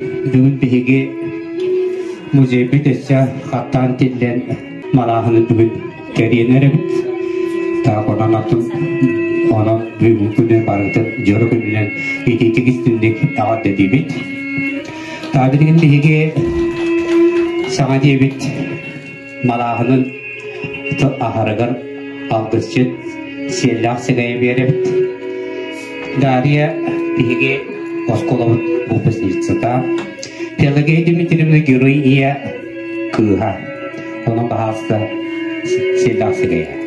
Бүгүн биһиги музейбит өссө хаттаан тиллэн малааһыны бүгүн кэриэн эрэбит. Так онон атын онон бүгүн күнү барытын дьоро күнүнэн ититик истинник аҕарда диибит. Та билигин биһиги саҥа диэбит Малааһынын аһарыгар алгысчыт Сиэллээх Сэгэй Берет, Дарья биһиги оскуолабыт выпускницата, Пелагея Дмитриевна герой ийэ кыыһа, ону баһаалыста Сиэллээх Сэгэйэ.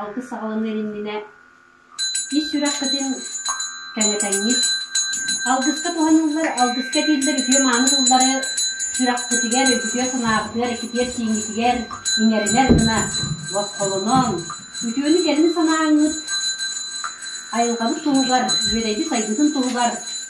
Алгыс саҕаланыан иннинэ ис сүрэххитин кэҥэтэҥҥит. Алгыска туһаныллар, алгыска этиллэр үтүө-мааны тыллары сүрэххитигэр, үтүө санааҕытыгар, иккитигэр-сииҥҥитигэр иҥэринэр гына босхолоноон, үтүөнү-кэлэни санааҥҥыт, айылҕабыт туһугар, үөрэйбит сайдыытын туһугар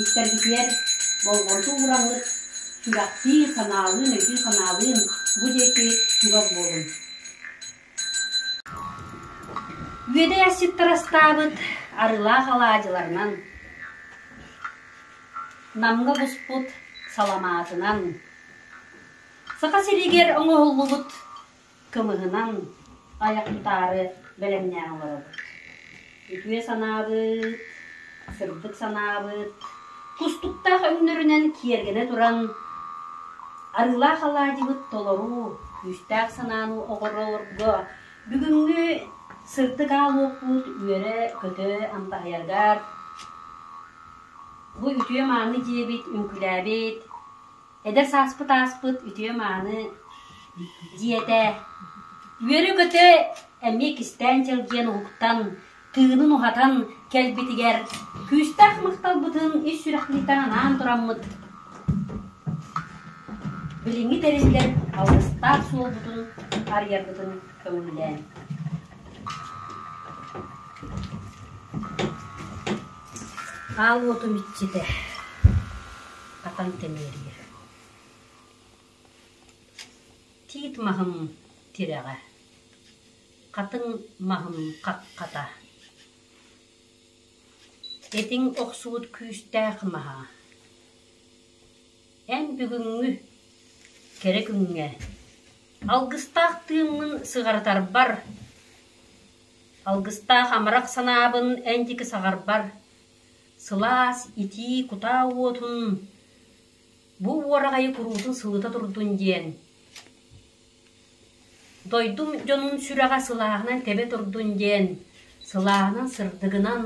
Истэрбитигэр болҕомто уураллык, сүрэхтиин, санаалыын, өйдүүн-санаалыын бу диэки чугас буолуҥ. Үөдэй асчыттар астаабыт арыылаах алаадьыларынан, Намга буспут саламаатынан, Саха сиригэр оҥоһуллубут кымыһынан айах утаары бэлэмнээн олоробут. Үтүө санаабыт, сырдык санаабыт тустуктаах өннөрүнэн киэргэнэ туран арыылаах алаадьыбыт толору, күүстээх санааны оҕорорго бүгүҥҥү сырдык аал уоппут үөрэ-көтө амтаһыйаргар бу үтүө-мааны дьиэбит, үҥкүүлээбит Эдэр сааспыт ааспыт үтүө-мааны дьиэтэ, үөрэ-көтө эмиэ кистээн чэлгиэн уһуктан, тыынын уһатан кэлбитигэр күүстээх махталбытын ис сүрэхтиитэн анаан тураммыт билиҥҥи тэриллэр алгыстаах суолбутун арыйарбытын көҥүллээн. Аал уотум иччитэ Хатан тэнийэр Тиит маһым тирэҕэ, хатыҥ маһым хаххата, этиҥ охсубут күүстээх маһа. Эн бүгүҥҥү, кэрэ күҥҥэ алгыстаах тыыммын сыҕарытарбар, алгыстаах амарах санаабын эн диэки саҕарбар, Сылаас итии кутаа уотун бу уораҕайы куруутун сылыта турдун диэн дойдум дьонун сүрэҕэ сылааһынан тэбэ турдун диэн, сылааһынан сырдыгынан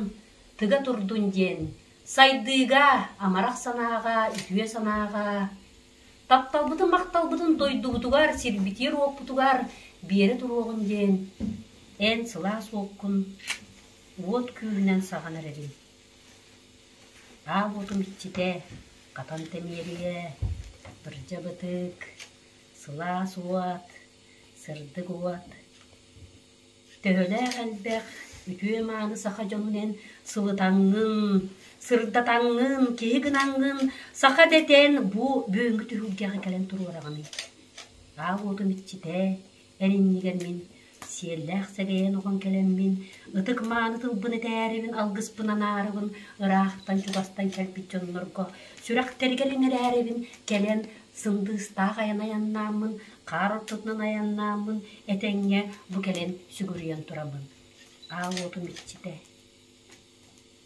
тыга турдун диэн сайдыыга, амарах санааҕа, үтүө санааҕа тапталбытын-махталбытын дойдубутугар, сирбитигэр-уоппутугар биэрэ туруоҕун диэн эн сылаас уоккун уот күүһүнэн саҕан эрэрим аа уотум иччитэ хатан тэмиэрийэ бырдьа бытыык сылаас уот сырдык уот төһөлөөх элбэх үтүө мааны саха дьонун эн сылытаҥҥын сырдатаҥҥын киһи гынаҥҥын саха дэтэн бу бүгүҥҥү түһүлгэҕэ кэлэн туруораҕыный аа уотум иччитэ Эриннигэр мин сиэллээх сэгэйэн оҕон кэлэммин, ытык мааны тылбын этээрибин, алгыспын анаарыбын, ыраахтан чугастан кэлбит дьоннорго сүрэхтэригэр иҥэрээрибин, кэлэн сындыыстаах айан айаннааммын, хаар ортотунан айаннааммын, этэҥҥэ бу кэлэн сүгүрүйэн турабын. Аал уотум иччитэ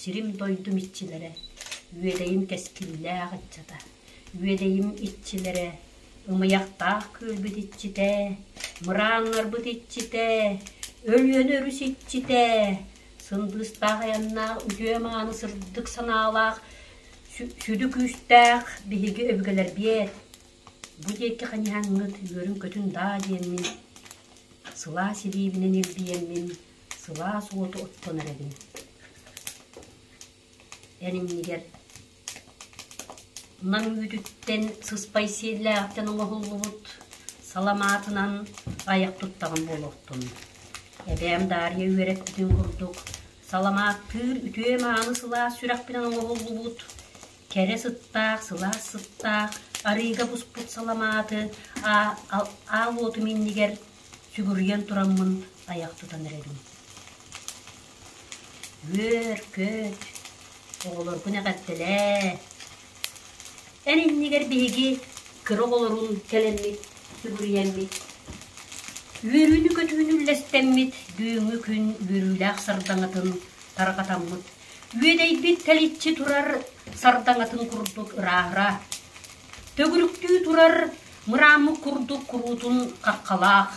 Сирим-дойдум иччилэрэ, Үөдэйим кэскиллээх ыччата, Үөдэйим иччилэрэ, Ымыйахтаах күөлбүт иччитэ, Мырааҥҥарбыт иччитэ, Өлүөнэ өрүс иччитэ, Сындыыстаах айаннаах үтүө-мааны сырдык санаалаах, сүдү күүстээх биһиги өбүгэлэрбиэт. Бу диэки ханьаһаҥҥыт үөрүн-көтүн даа диэммин, сылаас илиибинэн илгийэммин, сылаас уоту оттонор эбин эн иннигэр наҥ үүтүттэн сыспай сиэллээхтэн оҥоһуллубут саламаатынан айах туттаҕын буолуохтун эбээм даарыйа үөрэппитин курдук саламааттыыр үтүө мааны сылаас сүрэхпинэн оҥоһуллубут кэрэ сыттаах сылаас сыттаах арыыга буспут саламааты аал уотум иннигэр сүгүрүйэн тураммын тайах тутан эрэбин үөр көч оҕолоргун эҕэрдэлээ эн иннигэр биһиги кыра оҕолорун кэлэммит сүгүрүйэммит үөрүүнү-көтүүнү үллэстэммит бүгүҥҥү күн үөрүүлээх сардаҥатын тарҕатаммыт үөдэйбит тэличчи турар сардаҥатын курдук ырааһыра Төгүрүктүү турар мырааммыт курдук куруутун хаххалаах,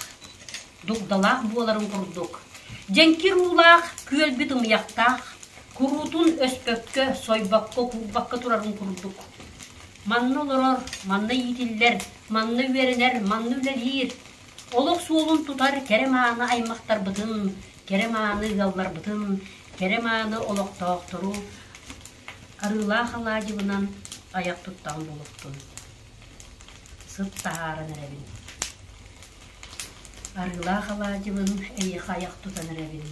дугдалаах буоларын курдук, дьэҥкир уулаах күөлбүт ымыйахтаах, куруутун өспөккө, сойбокко, курбакка турарын курдук. Манна олорор, манна иитиллэр, манна үөрэнэр, манна үлэлиир, олох суолун тутар кэрэ мааны аймахтарбытын, кэрэ мааны ыалларбытын, кэрэ мааны олохтоохтору Арыылаах алаадьыбынан айах туттан булуктун. Сыт таһааран эрэбин. Арыылаах алаадьыбын эйиэхэ айах тутан эрэбин.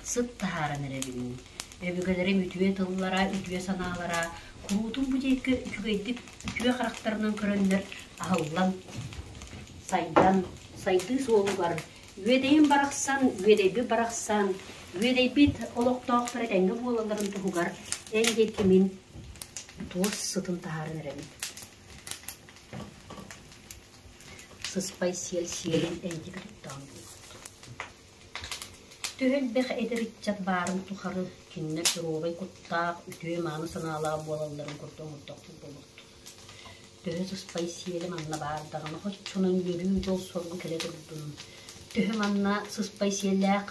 Сыт таһааран эрэбин. Өбүгэлэрим үтүө тыллара, үтүө санаалара куруутун бу диэки үчүгэйдик үтүө харахтарынан көрөннөр аһыллан, сайдан, сайдыы суолугар Үөдэйим барахсан Үөдэйбит барахсан Үөдэйбит олохтоохтор этэҥҥэ буолалларын туһугар эн диэки мин туос сытын таһааран эрэбин. Сыспай сиэл сиэлин эйдибит оттоон буолбут. Төһө элбэх эдэр ыччат баарын тухары кинилэр доруобай куттаах, үтүө-мааны санаалаах буолалларын курдук оҥордохпут буолбут. Төһө сыспай сиэлим анна баар даҕаны оччонон үөрүүр дьол соргу кэлэ турдун. Төһө манна сыспай сиэллээх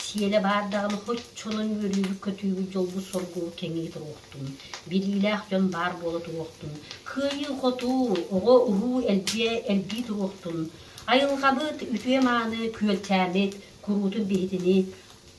сиэлэ баар даҕаны оччонон үөрүүбүт-көтүүбүт дьолбут соргу кэҥии туруохтун. Билиилээх дьон баар буола туруохтун. Кыайыы-хотуу, оҕо-уруу элбиэ, элбии туруохтун. Айылҕабыт үтүө-мааны күөлчээмит, куруутун биһитинит,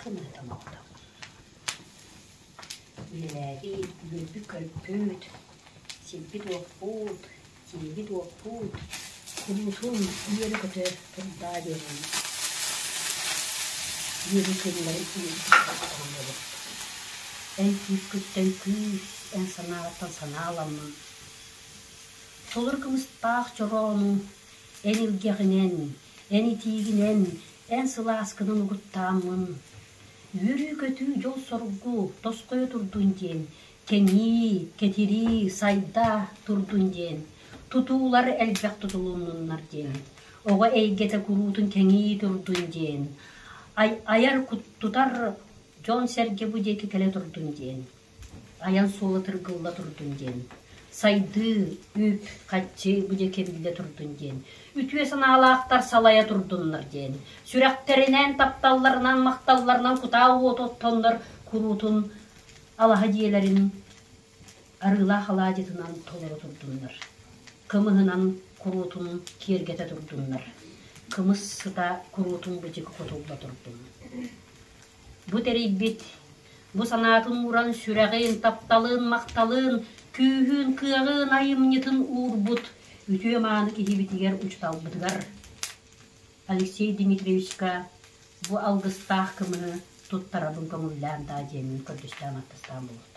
Кынаттан оҕото Үлэлээбит, үөрбүт көрбүт, сирбит-уоппут, сиэбит-уоппут, куруутун үөрэ-көтө турдаа диэн үөрүү тылларын иһитиннэбит. Эн күүскүттэн күүс, эн санаатан санааламмын. Толору кымыстаах чороону эн илгэҕинэн Эн итиигинэн эн сылааскынан угуттааммын, үөрүү-көтүү дьол-соргу тосхойо турдун диэн, кэҥии, кэтирии, сайда турдун диэн, тутуулар элбэх тутулуннуннар диэн, оҕо эйгэтэ куруутун кэҥии турдун диэн, айар, куттутар дьон-сэргэ бу диэки кэлэ турдун диэн. айан суола тыргылла турдун диэн, сайдыы, үүт, хаччы бу дьэ киргидэ турдун диэн, үтүө санаалаахтар салайа турдуннар диэн, сүрэхтэринээн тапталларынан, махталларынан кутаа уоту оттоннор куруутун алаһа дьиэлэрин арыылаах алаадьытынан толору турдуннар, кымыһынан куруутун киэргэтэ турдуннар, кымыс сыта куруутун быдьык хотулла турдун. Бу тэрийбит Бу санаатын ууран сүрэҕин тапталын, махталын, күүһүн, кыаҕын, айымньытын уурбут үтүө мааны киһибитигэр учууталбытыгар Алексей Дмитриевичка бу алгыстаах көмөнү туттарабын көҥүллээн даа диэммин көрдөстөөн аттастаан буолбут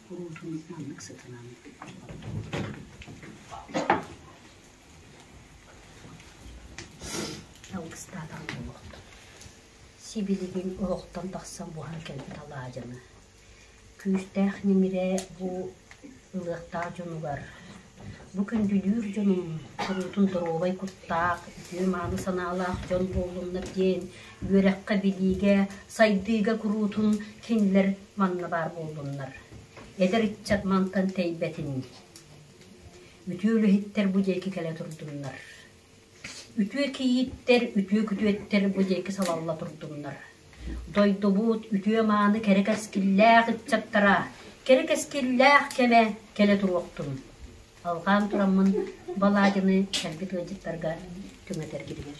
Оруолбунан маннык сатанаан алгыстаатаҕа буолуохтун, сибилигин олохтон тахсан буһан кэлбит алаадьыны, күүстээх ньимирэ бу ылыахтаах дьонугар, бу күндүлүүр дьонум, куруутун доруобай куттаах, үтүө-мааны санаалаах дьон буоллуннар диэн үөрэххэ, билиигэ, сайдыыга куруутун кинилэр манна баар буоллуннар, эдэр ыччат мантан тэйбэтин дии. Үтүө үлэһиттэр бу диэки кэлэ турдуннар. Үтүө кийииттэр, үтүө күтүөттэр бу диэки салалла турдуннар. Дойдубут үтүө-мааны кэрэ кэскиллээх ыччаттара, кэрэ кэскиллээх кэмэ кэлэ туруохтун. Алҕаан тураммын Балагины кэлбит ыалдьыттарга түҥэтэргитигэр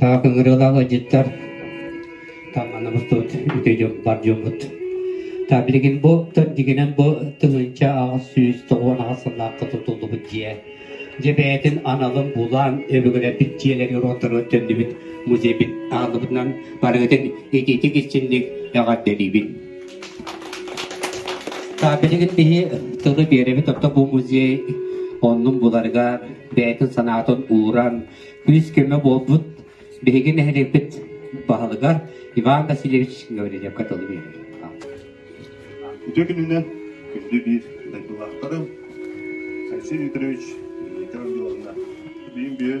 Таап ыҥырыылаах ыалдьыттар таҥнаны мустубут үтүө бар дьоммут. Та билигин бу дигинэн бу тылынча аҕыс сүүс тоҕуон аҕыс сыллаахха тутуллубут дьиэ. Дьэ бэйэтин аналын булан өбүгэлэрбит дьиэлэри уруоттарынан төннүбүт музейбит ааныбытынан барыгытын ититик иччинник эҕэрдэлиибин. Билигин биһи тылы биэрэбит, оттон бу музей оннун буларыгар бэйэтин санаатын ууран күүс-көмө буолбут биһиги нэһилиэкпит баһылыгар Иван Васильевич Гаврильевка тылы биэрэбит. Үтүө күнүнэн күндү биир дойдулаахтарым Алексей Викторович Дмитриевна, биин биир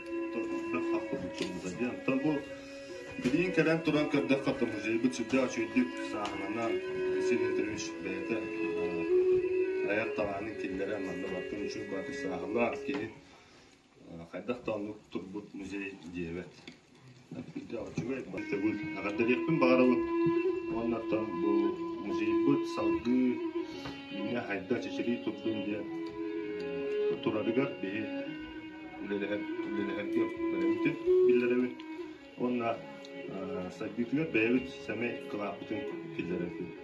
Оттон бу билигин кэлэн туран көрдөххө, музейбыт сүрдээх үчүгэйдик сааһыланан, Василий Андреевич бэйэтэ айар талаанын киллэрэн манна бартын үчүн баатыр сааһылаан киһи хайдах да оннук турбут музей диэбэт. Мастабыт эҕэрдэлиэхпин баҕарабыт уонна бу музейбыт салгыы инньэ хайда чэчирии турдун диэн турарыгар биһи үлэлэһэргэ бэлэммитин биллэрэбин уонна сайдыытыгар бэйэбит сэмэй кылааппытын киллэрэбит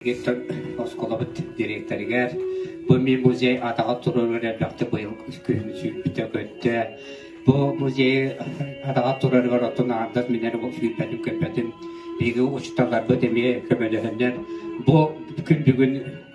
Виктор оскуолабыт дириэктэригэр «Бу мин музей атаҕар туруорар элбэхтэ быйыл күһүн сүүрбүтэ көттө. Бу музейи атаҕар туруорарыгар оттон аҥардас миннэн сүүрбэтин-көппөтүн. Биһиги учууталларбыт эмиэ көмөлөһөннөр бу күн бүгүн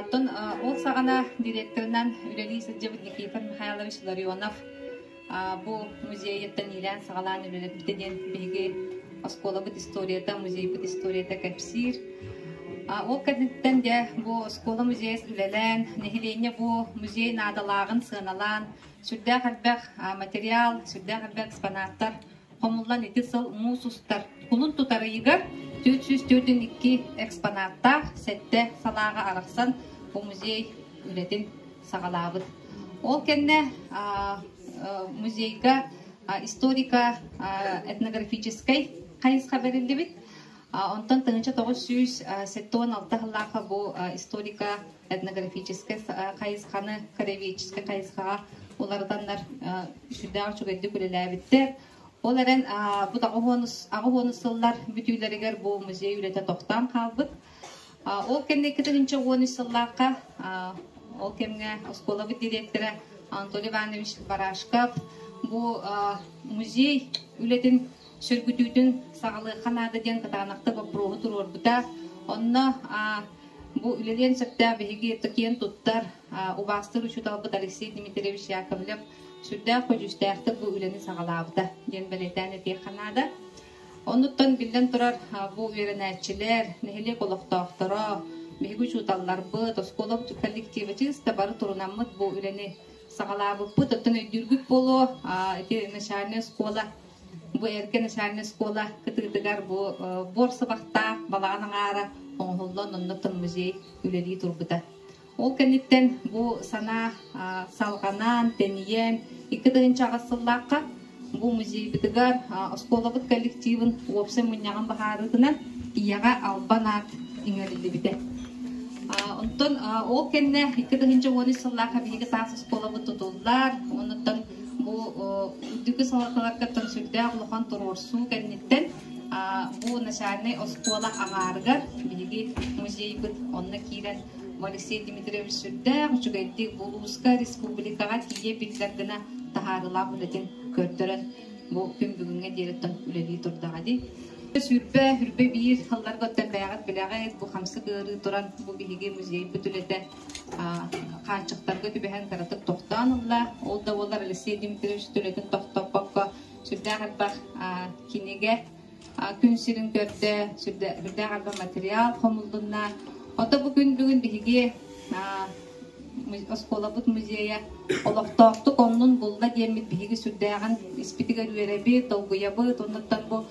Оттон ол саҕана директорынан үлэлии сылдьыбыт Никифор Михайлович Ларионов бу музейыттан иилээн-саҕалаан үлэлэппитэ диэн биһиги оскуолабыт историята, музейбыт историята кэпсиир. Ол кэнниттэн дьэ бу оскуола музейа үлэлээн, нэһилиэнньэ бу музей наадалааҕын сыаналаан, сүрдээх элбэх материал, сүрдээх элбэх экспонаттар Хомуллан ити сыл муус устар кулун тутарыйыгар түөрт сүүс төрдүн икки экспонаттаах сэттэ санааҕа арахсан бу музей үлэтин саҕалаабыт. Ол кэннэ музейга историка этнографическай хайысха бэриллибит. Онтон тыһыынча тоҕус сүүс сэттэ уон алта сыллаахха бу историко этнографическай хайысханы, краеведческай хайысхаҕа уларытаннар сүрдээх үчүгэйдик үлэлээбиттэр. Ол эрэн бу аҕыс уон сыллар бүтүүлэригэр бу музей үлэтэ тохтоон хаалбыт. Ол кэнники тыһыынча уон үс сыллаахха ол кэмҥэ оскуолабыт директора Анатолий Иванович Барашков бу музей үлэтин сөргүтүүтүн саҕалыахха наада диэн кытаанахта боппуруоһу туруорбута. Онно бу үлэлиэн сөптөөх биһиги киэн туттар, убаастыыр учууталбыт Алексей Дмитриевич Яковлев сүрдээх көдьүүстээхтик бу үлэни саҕалаабыта диэн бэлиэтээн этиэххэ наада. Оннуттан биллэн турар бу үөрэнээччилэр, нэһилиэк олохтоохторо, биһиги учууталларбыт, оскуола коллективачыыста бары турунаммыт бу үлэни саҕалаабыппыт. Оттон өйдүүргүт буолуо, ити начальнай оскуола Бу эргэ начальнай школа кытыытыгар бу буорсабахтаах балаҕан аҥаара оҥоһуллан оннуктан музей үлэлии турбута. Ол кэнниттэн бу санаа салҕанан, тэнийэн икки тыһыынча аҕыс сыллаахха бу музейбытыгар оскуолабыт коллективын уопсай мунньаҕын баһаарыытынан ийэҕэ албан аат иҥэриллибитэ. Онтон ол кэннэ икки тыһыынча уон үс сыллаахха биһиги таас оскуолабыт тутуллар, оннуттан бу үрдүкү салалталаргыттан сүрдээх улахан туруорсуу кэнниттэн бу начальнай оскуола аҥаарыгар биһиги музейбыт онно киирэн Алексей Дмитриевич сүрдээх үчүгэйдик улууска, республикаҕа тиийэ биллэр гына таһаарыылаах үлэтин көрдөрөн бу күн бүгүҥҥэ диэри үлэлии турдаҕа дии. Сүрбэ, үрбэ биир, алларга оттөппээҕит билэҕит, бу хамсык ыарыы туран, бу биһиги музейбыт үлэтэ хааччахтарга түбэһэн кыратык тохтоон ылла. Ол да буоллар Алексей Дмитриевич үлэтин тохтоппокко сүрдээх элбэх кинигэ күн сирин көрдө, сүрдээх элбэх материал хомуллунна. Ото бу күн бүгүн биһиги оскуолабыт музейа олохтоохтук оннун булла диэммит биһиги сүрдээҕин испитигэр үөрэбит, долгуйабыт, оннуттан бу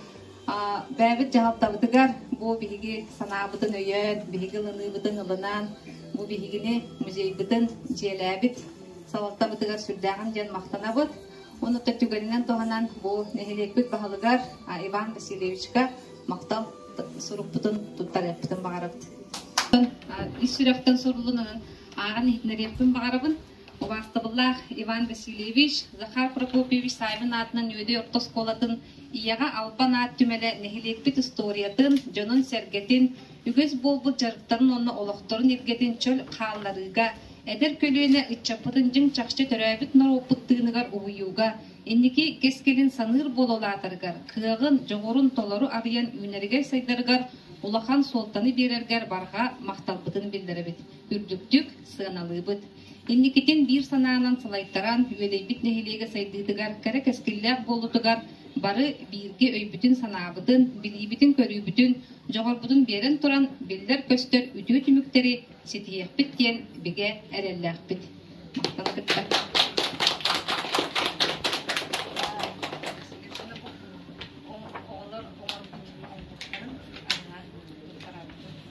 Бэйэбит дьаһалтабытыгар бу биһиги санаабытын өйөөн, биһиги ылыныыбытын ылынан, бу биһигини музейбытын дьиэлээбит салалтабытыгар сүрдээҕин диэн махтанабыт. Онуттан түгэнинэн туһанан бу нэһилиэкпит баһылыгар Иван Васильевичка махтал сурукпутун туттарыахпытын баҕарабыт. Ис сүрэхтэн сурулунан ааҕан иһитинэриэхпин баҕарабын. Убаастабыллаах Иван Васильевич, Захар Прокопьевич Саайбын аатынан Үөдэй орто оскуолатын Ийэҕэ Албан аат түмэлэ нэһилиэкпит историятын, дьонун-сэргэтин, үгэс буолбут дьарыктарын уонна олохторун иргэтин чөл хаалларыыга, эдэр көлүөнэ ыччаппытын дьиҥ чахчы төрөөбүт норуоппут тыыныгар угуйууга, инники кэскилин саныыр буола улаатарыгар, кыаҕын, дьоҕурун толору арыйан үүнэригэй сайдарыгар улахан суолтаны биэрэргэр барҕа махталбытын биллэрэбит. үрдүктүк сыаналыыбыт. Инникитин биир санаанан салайтаран, үөдэйбит нэһилиэгэ сайдыытыгар, кэрэ кэскиллээх буолуутугар бары бииргэ өйбүтүн-санаабытын, билиибитин-көрүүбүтүн, дьоҕурбутун биэрэн туран, биллэр-көстөр үтүө түмүктэри ситиһиэхпит диэн бигэ эрэллээхпит. Махтана кыттар. оҕолор оҥорбут оҥорбуттарын арҕаа туттарабытын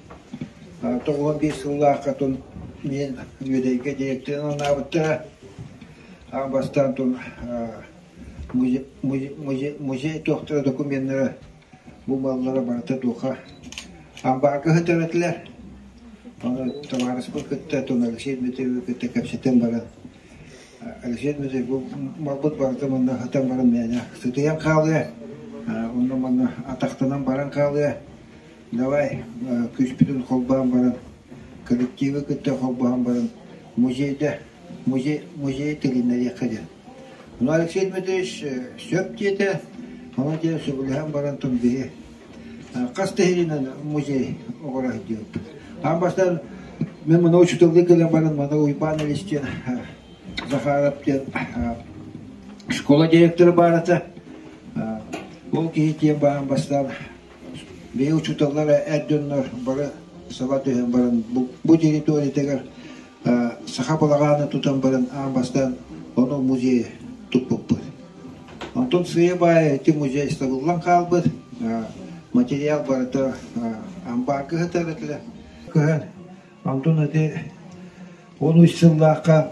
тоҕуһа биир сыллааххытын мин Бүөдэйгэ директорын анаабыттара. Аҕа бастаан тыл музей туохтара докумуоннара бумаллара барыта туоха амбаарга сытар этилэр. Ону табаарыспын кытта туону Алексей Дмитриевы кытта кэпсэтэн баран Алексей Дмитриев бу малбыт барыта манна сытан баран мээнэ сытыйан хаалыа. Онно-манна атахтанан баран хаалыа. давай күүспүтүн холбоон баран коллективы кытта холбоон баран музейда музей музей тигиннэриэххэ диэн ну алексей дмитриевич сөп диэтэ ону диэн сөбүлэһэн баран тум биһи хас тэһиринэн музей оҕура диэбит аан бастан мен мына учительга кэлэн баран мана уйбаан элис диэн захаров диэн школа директора баарата ол киһи диэн баан бастаан Бэйэ учууталлара эр дьоннор бары саба түһэн баран бу территориятыгар саха балаҕааны тутан баран аан бастаан ону музейы туппуппут. Онтон сыыйа баайа ити музей сабыллан хаалбыт. Материал барыта амбаар кыһытар этилэр. Кыһан Онтон ити он үс сыллаахха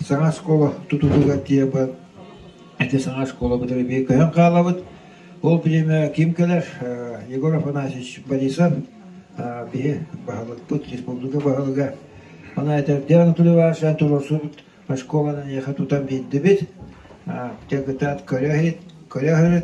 саҥа оскуола тутулугар тиийэн ити саҥа оскуола бытары биир көһөн хаалабыт. Ол бириэмэҕэ ким кэлэр? Егор Афанасьевич Борисов биһи баһылыкпыт, республика баһылыга Анатольевич Анатолий Иванович туруорсубут оскуоланы эйиэхэ тутан биэрдибит. Дьагытаат көрө көрө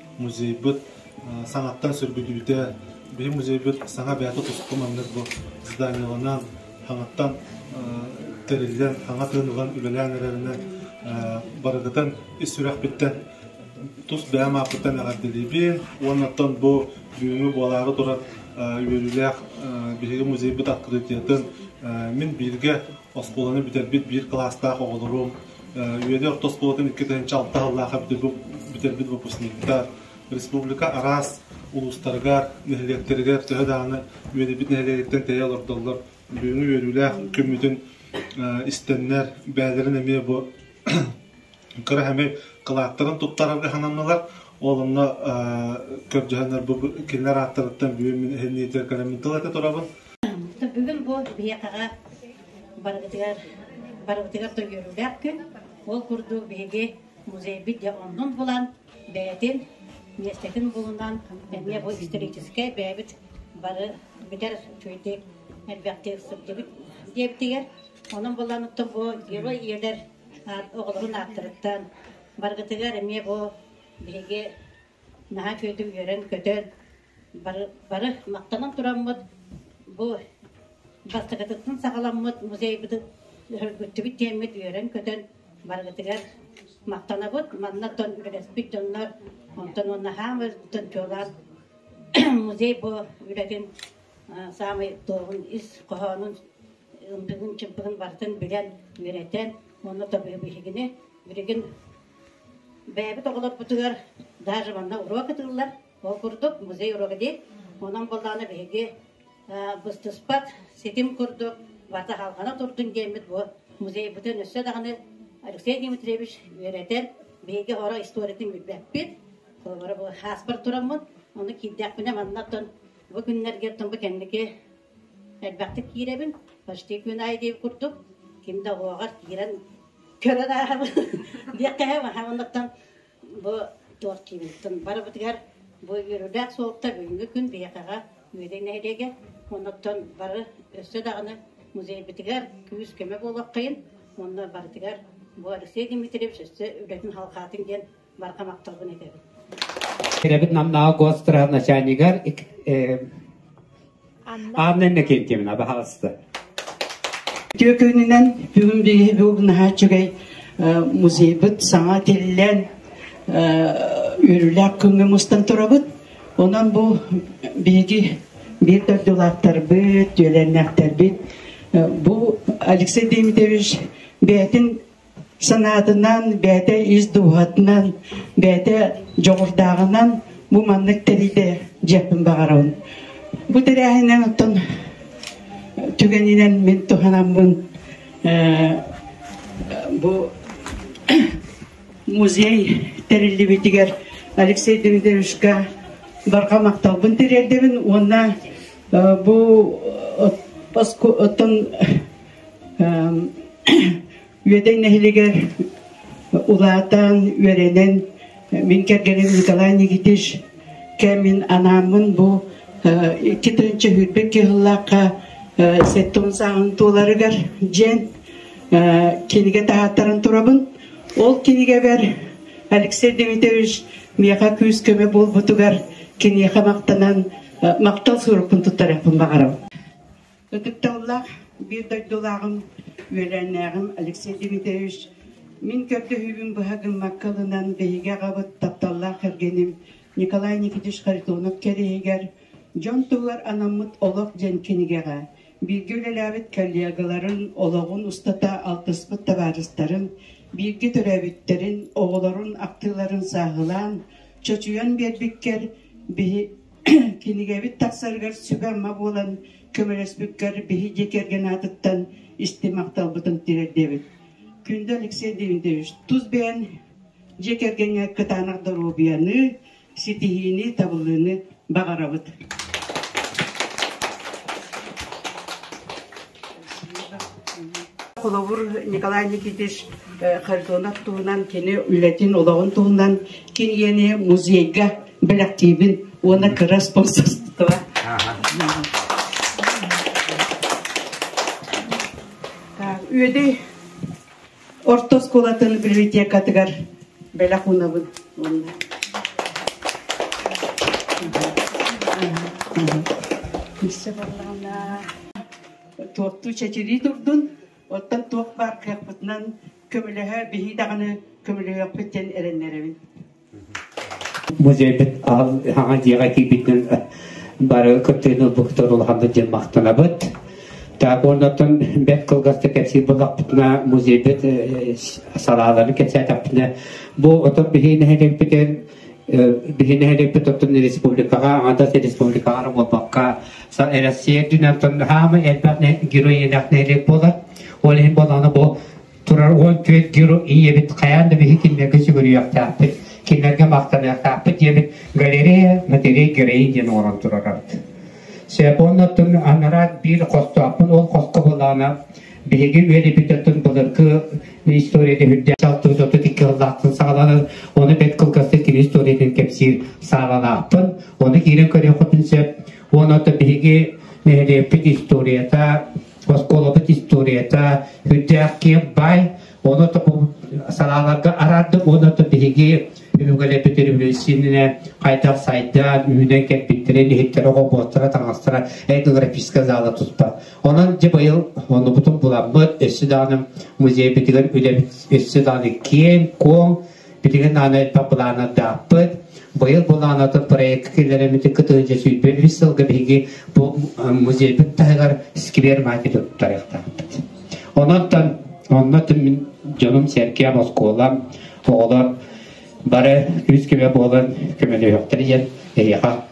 музейбыт саҥаттан сөргүтүүтэ биһи музейбыт саҥа бэйэтэ туску маннык бу зданиеланан саҥаттан тэриллэн саҥа тыынынан үлэлээн эрэринэн барыгытын ис сүрэхпиттэн тус бэйэм ааппыттан эҕэрдэлиибин уонна оттон бу бүгүҥҥү буолаары турар үөрүүлээх биһиги музейбыт открытиятын мин бииргэ оскуоланы бүтэрбит биир кылаастаах оҕолорум Үөдэй орто оскуолатын иккитинчи алта сыллаах бүтэрбит выпускникта республика араас улуустарыгар, нэһилиэктэригэр төһө даҕаны үөдэбит нэһилиэгиттэн тэйэ олордоллор, бүгүҥҥү үөрүүлээх күммүтүн истэннэр, бэйэлэрин эмиэ бу кыра эмиэ кылааттарын туттарарга сананнылар. Ол онно көрдөһөннөр бу кинилэр ааттарыттан бүгүн мин иһин кэлэммин тыл этэ турабын. Бүгүн бу биһиэхэҕэ барыбытыгар барыбытыгар тойуоруулаах күн. Ол курдук биһиги музейбыт дьэ оннун булан, бэйэтин миэстэтин булунан эмиэ бу историческай бэйэбит бары бүтэр үчүгэйдик элбэхтик сылдьыбыт диэбитигэр онон булланыттан бу герой ийэлэр оҕолорун ааттарыттан барыгытыгар эмиэ бу биһиги наһаа күөдү үөрэн көтөн Бары, бары махтанан тураммыт бу бастакытыттан саҕаламмыт музейбытын өргүттүбүт диэммит үөрэн-көтөн барыгытыгар махтанабыт. Манна дон үлэспит дьоннор онтон уонна хаамыытын чуолаан музей бу үлэтин э, саамай туоһун ис хоһоонун ымпыгын-чымпыгын барытын билэн, үөрэтэн уонна тобиһы биһигини билигин бэйэбит оҕолорбутугар даже манна уруок ытыыллар Ол курдук музей уруога диир. Онон боллаана биһиги быстыспат ситим курдук вата халҕана турдун диэммит бу музейбытын өссө даҕаны Алексей Дмитриевич үөрэтэр, биһиги хоро историятын билбэппит. Холобура бу хааспар тураммын, ону киирдэхпинэ маннаттан бу күннэргэ бу кэнники элбэхтик киирэбин. Почти күн ай диир курдук ким да оҕоҕор киирэн көрөр ааһабын диэххэ маннаттан бу Тортиевиттан барыбытыгар бу үөрүүлээх суолта бүгүҥҥү күн биһиэхэҕэ Үөдэй нэһилиэгэ, оннуттан бары өссө даҕаны музейбытыгар күүс-көмө буолуоххайын, онно барытыгар бу Алексей Дмитриевич өссө үлэтин халҕаатын диэн барҕамахталбын этэбин. Кирэбит Намнаҕа госстраха начальнигар Аанна Иннокентьевна, пожалуйста. Үтүө күнүнэн бүгүн биһиги угнаһа үчүгэй музейбыт саҥа тиллэн үрүлээх күҥҥэ мустан турабыт. Онон бу биһиги биир дойдулаахтарбыт, дьүөлэннээхтэрбит бу Алексей Дмитриевич бэйэтин санаатынан, бэйэтэ ис дууһатынан, бэйэтэ дьоҕурдааҕынан бу маннык тэрийдэ дьиэппин баҕарабын. Бу тэрээһинэн оттон түгэнинэн мин туһанаммын бу музей тэриллибитигэр Алексей Демидовичка барҕа махталбын тириэрдэбин уонна бу оттон Үөдэй нэһилигэр улаатан, үөрэнэн мин кэргэним Николай Никитич кэмин анааммын бу икки тыһынча сүүрбэ кыһыллаахха сэттон сааһын туоларыгар дьиэн кинигэ таһааттаран турабын. Ол кинигэбэр Алексей Дмитриевич миэхэ күүс-көмө буолбутугар киниэхэ махтанан махтал сурукпун туттарыахпын баҕарабын. Ытыкталлаах биир дойдулааҕым, үөлээннээҕим Алексей Дмитриевич, мин көрдөһүүбүн быһа гыммакка ылынан, биһиги аҕабыт, тапталлаах кэргэним Николай Никитич Харитонов кэриэһигэр дьон туһугар анаммыт олох диэн кинигэҕэ бииргэ үлэлээбит коллегаларын, олоҕун устата алтыспыт табаарыстарын, бииргэ төрөөбүттэрин, оҕолорун ахтыыларын сааһылаан, чочуйан биэрбиккэр биһи кинигэбит тахсарыгар сүбэ-ама буолан көмөлөспүккэр биһи дьиэ кэргэн аатыттан исти махталбытын тиэрдиэбит. Күндө Алексей Демидович, тус бэйэн дьиэ кэргэҥҥэ кытаанах доруобуйаны, ситиһиини, табыллыыны баҕарабыт. Холобур Николай Никитич Харитонов туһунан, кини үлэтин, олоҕун туһунан, кини музейга бэлэхтиибин уонна кыра спонсорство Үөдэй орто оскуолатын библиотекатыгар бэлэх уунабын уоннаIsse бардаҕына туохтуу чэчирии турдун, оттон туох баар кыахпытынан көмөлөһө, биһи даҕаны көмөлөһүөхпүт диэн эрэннэрэбин. музейбыт хаҥа дьиэҕэ киирбитинэн бары кыттыыны ылбыттар улаханнык дьон махтанабыт. Так оннотон бэт кылгасты кэпсиир булахпытына музейбит салаалары кэчээтэппитинэ бу отон биһи нэһэлэппитин биһи нэһэлэппит оттон республикаҕа ангадас республикаҕа буолбакка Россия дүнэн тон хаама элбэх герой элэх нэһэлэк болар ол иһин боланы бу турар уол түөрт геру ийэбит хайаан да биһи кинилэргэ сүгүрүйүөхтээхпит, кинилэргэ махтаныахтаахпыт диэбит Галерея матерей Гереи диэн оҥорон турарбыт. Сепоннаттан анарат биир хостоохпун ол хоско былаана биһиги үөлэбит оттун былыргы историята үрдэ алтыбыт отут икки ыллаахтын саҕаланар оны бэт кылгастык кини историятын кэпсиир саалалаахпын оны киирэн көрүөхпүтүн сөп уон отто биһиги нэһилиэкпит историята оскуолабыт историята үрдээх киэн бай ону санааларга араарды уонна то биһиги үҥэлэпит революцийнэ хайдах сайда үүнэн кэлбиттэрин иһиттэрэ оҕобуоттара таҥастара этнографическая зала туспа онон дьэ быйыл оннубутун буламмыт өссө даҕаны музейбитигэр үлэбит өссө даҕаны киэҥ куоҥ Билигин аан элбэх былаанардаахпыт. Быйыл былаанатын проекка киллэриммитин кытары сүүрбэ үс сылга биһиги бу музейбыт таһыгар сквер маати туттарыахтаахпыт. Онон онно дьонум сэркиэм, оскуолам, оҕолор бары үс көмө буолан көмөлөһүөхтэрэ диэн эһиэхэ